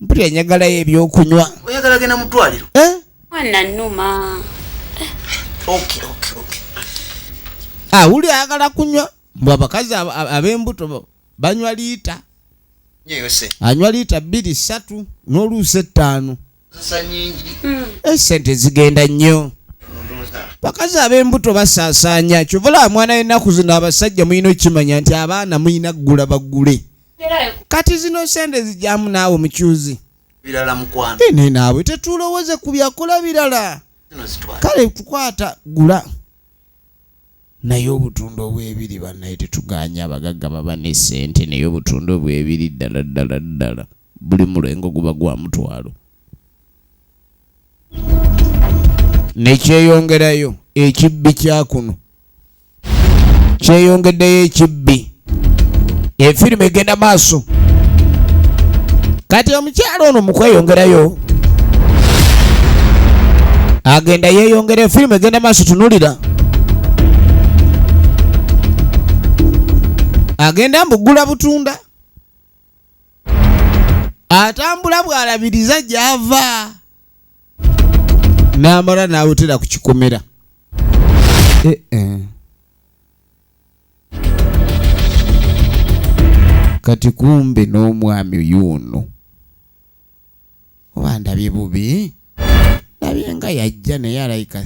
mpulira njagalayo ebyokunywa oyagala genda mu ddwaliro eh? mwana numa awuli ah, ayagala kunywa mbwe abakazi ab'embuto banywa liita anywa liita bbiri ssatu n'oluusi ettaano hmm. esente eh, zigenda nnyo bakazi ab'embuto basaasaanya kyovulaba mwana yennaku zino abasajja mulina okukimanya nti abaana mulina kugula bagule kati zino sente zijamu naawe omukyuzi birala mukwano ine naawe tetulowoze ku byakola birala kale tukwata gula naye obutunda obwebiri banaye tetuganya abagagga baba ne sente naye obutunda obwebiri ddala ddala ddala buli mulengo guba gwa mutwalo nekyeyongerayo ekibbi kyakuno kyeyongeddeyo ekibbi efirimu egenda maaso kati omukyalo ono mukweyongerayo agenda yeyongera efirimu egenda maaso tunulira agenda mbugula butunda atambula bwalabiriza gyava namala nawutira ku kikomera eh, eh. kati kumbe n'omwami yuuno oba ndabye bubi ndabye nga yajja naye alayika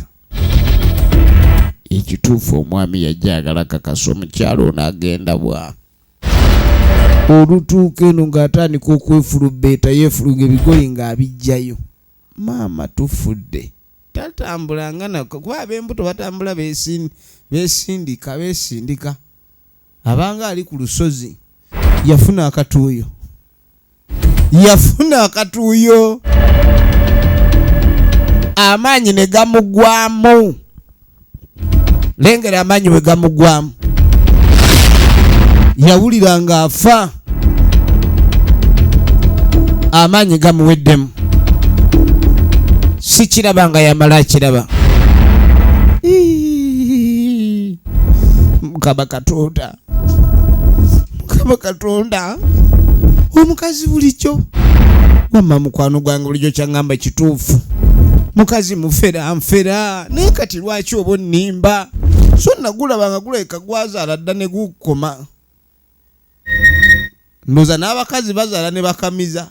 ekituufu omwami yajja agala kakasa omukyalo ono agenda bwa olutuuka eno ng'atandika okwefulubbeeta yeefuluga ebigoye ng'abiggyayo maama tufudde tatambula nga nako kuba ab'embuto batambula beesindika beesindika abanga ali ku lusozi yafuna akatuuyo yafuna akatuuyo amaanyi ne gamugwamu lengera amaanyi we gamugwamu yawulira ng'afa amaanyi gamuweddemu sikiraba nga yamala akiraba mukama katonda mukama katonda omukazi bulijjo wamma mukwano gwange bulijjo kyaŋŋamba kituufu mukazi mufera nfera naye kati lwaki oba onnimba so nagulaba nga gulabika gwazaala dda ne gukoma ndoza n'abakazi bazaala ne bakamiza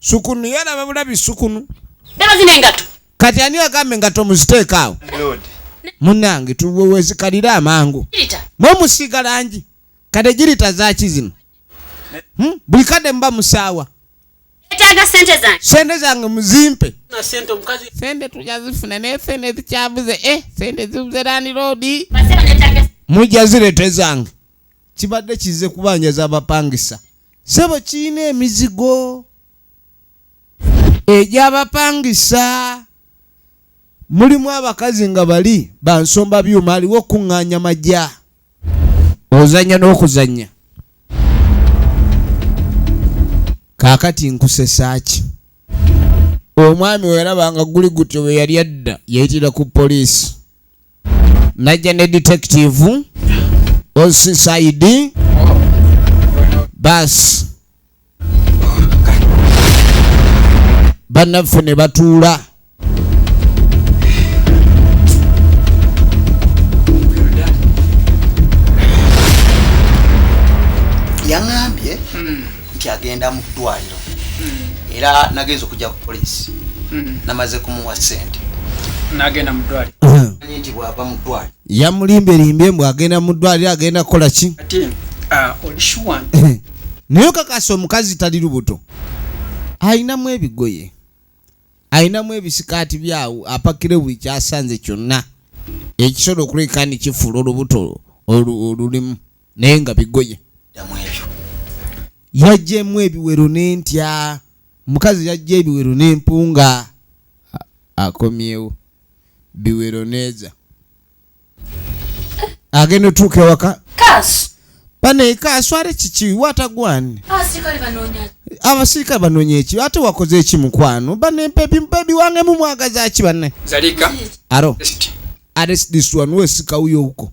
Sukunu yalaba bulabi sukunu. Daba zino engato. Kati ani agambe engato muziteeka awo. Munange tuwewezikalira amangu. Mwe musiiga langi. Kade girita zaki zino. Hmm? Buli kade mba musaawa. Etaaga sente zange. Sente zange muzimpe. Na sente omukazi. Sente tujazifuna naye sente zikyabuze eh sente zibuze lani road. Mujja zirete zange. kibadde kizze kubanja z'abapangisa sebo kirina emizigo egy'abapangisa mulimu abakazi nga bali bansomba byuma aliwo okuŋŋaanya majja ozannya n'okuzannya kaakati nkusesaaki omwami weraba nga guli gutyo bwe yali adda yayitira ku poliisi najja ne detective osisaidi baasi bannaffe ne batuula yaŋambye hmm. nti agenda mu ddwaliro hmm. era nagenza okujja ku poliisi hmm. namaze kumuwa sente nagenda mu ddwaliro hmm. nti bwava mu ddwaliro yamulimbelimbye mbu agenda mu ddwaliro agenda kukola ki ah, naye okakasa omukazi tali lubuto alinamu ebigoye alinamu ebisikaati byawo apakire buli kyasanze kyonna ekisolo okuleka ni kifuula olubuto olulimu naye nga bigoye yajjemu ebiwero n'entya omukazi yajja ebiwero n'empunga akomyewo biwero neeza agenda otuuka ewaka banaye kaswale kiki watagwani abasirikale banonya eki ate wakoze eki mukwano banebebi wange mumwagaza ki bane aro ares this one wesika uyo uko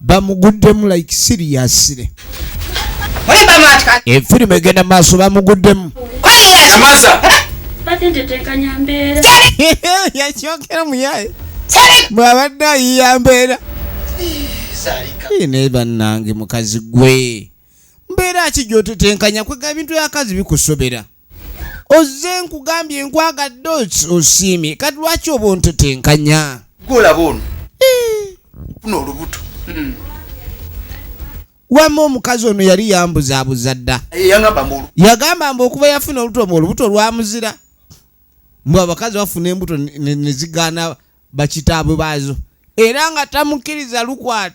bamuguddemu like siriyasire efirimu eh, egenda maaso bamuguddemu yakyokera muyaye bwabadde ayiya mbeera naye bannange mukazi gwe mbeera ki gyotetenkanya kwega ebintu yakazi bikusobera ozze nkugambye nkwagadde osiimye kati lwaki obuntu tenkanya gwolaba ono eh. funa olubuto hmm. wama omukazi ono yali yambuzabuza dda eh, yagamba mbu okuba yafuna olubuto mu olubuto lwamuzira mbu abakazi bafuna embuto nezigaana bakitaabwe baazo era nga tamukkiriza lukwata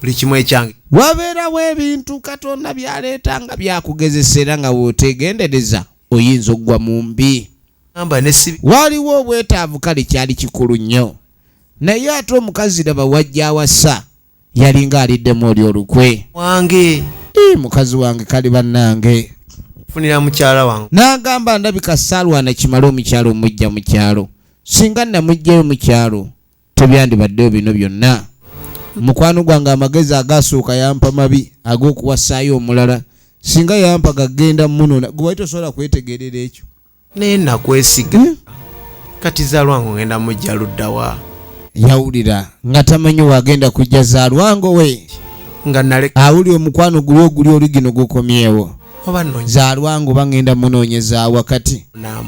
buli kimu ekyange wabeerawo ebintu katonda byaleeta nga byakugezesa era nga weotegendereza oyinza okugwa mu mbi waliwo obwetaavu kale kyali kikulu nnyo naye ate omukazi laba wajja awasa yalinga aliddemu oli olukwe wange mukazi wange kali bannange funira mukyala wange n'agamba ndabika saalwana kimale omukyalo omujja mu kyalo singa namujjayo mu kyalo tebyandibaddeyo bino byonna mukwano gwange amagezi agaasuuka yampa mabi ag'okuwasaayo omulala singa yampa gagenda munona gwe wali tosobola kwetegerera ekyo naye nakwesiga hmm? kati zalwange ogenda mujja luddawa yawulira nga tamanyi wagenda kujja zalwango we nga naleka awuli omukwano guli oguli oligino gukomyewo zalwange oba ngenda munoonyeza wakati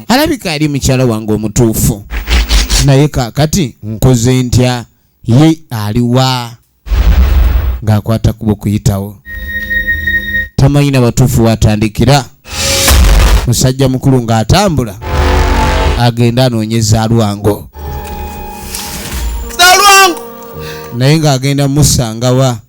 alabika ali mukyala wange omutuufu naye kakati nkoze ntya ye aliwa ng'akwata kuba okuyitawo tamanyi na batuufu watandikira musajja mukulu ng'atambula agenda anoonyeza alwango naye ng'agenda musangawa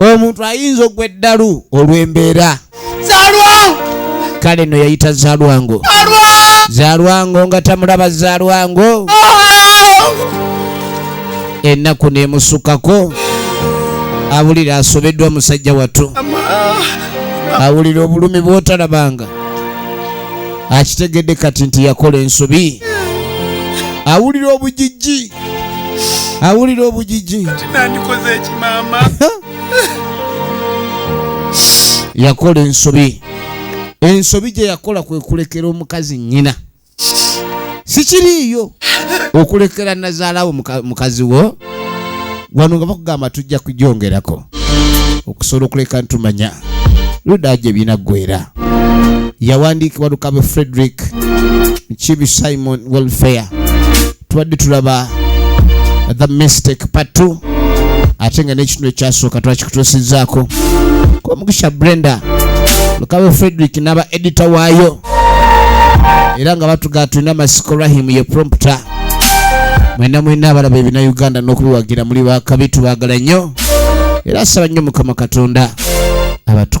omuntu ayinza ogwa eddalu olw'embeera kale no yayita zalwango zalwango nga tamulaba zalwango ennaku nemusukako awulira asobeddwa musajja wattu awulira obulumi bwotalabanga akitegedde kati nti yakola ensobi awulira obujijji awulira obujiji nandikoze ekimama yakola ensobi ensobi gye yakola kwe kulekera omukazi nnyina sikiriiyo okulekera nazaalawo mukazi wo wano nga bakugamba tujja kujongerako okusobola okuleka ntumanya luda gye binaggwera yawandiikibwa lukabe frederick kibi simon welfare tubadde tulaba the mistake patu ate nga n'ekitundu ekyasooka twakikutuusizaako komugisha brenda lukabe frederick n'aba edita waayo era nga batugaa tulina masiko rahim ye prompter mwena mwena abalaba ebina uganda n'okubiwagira muli bakabi tubagala nnyo era saba nnyo mukama katonda abatuku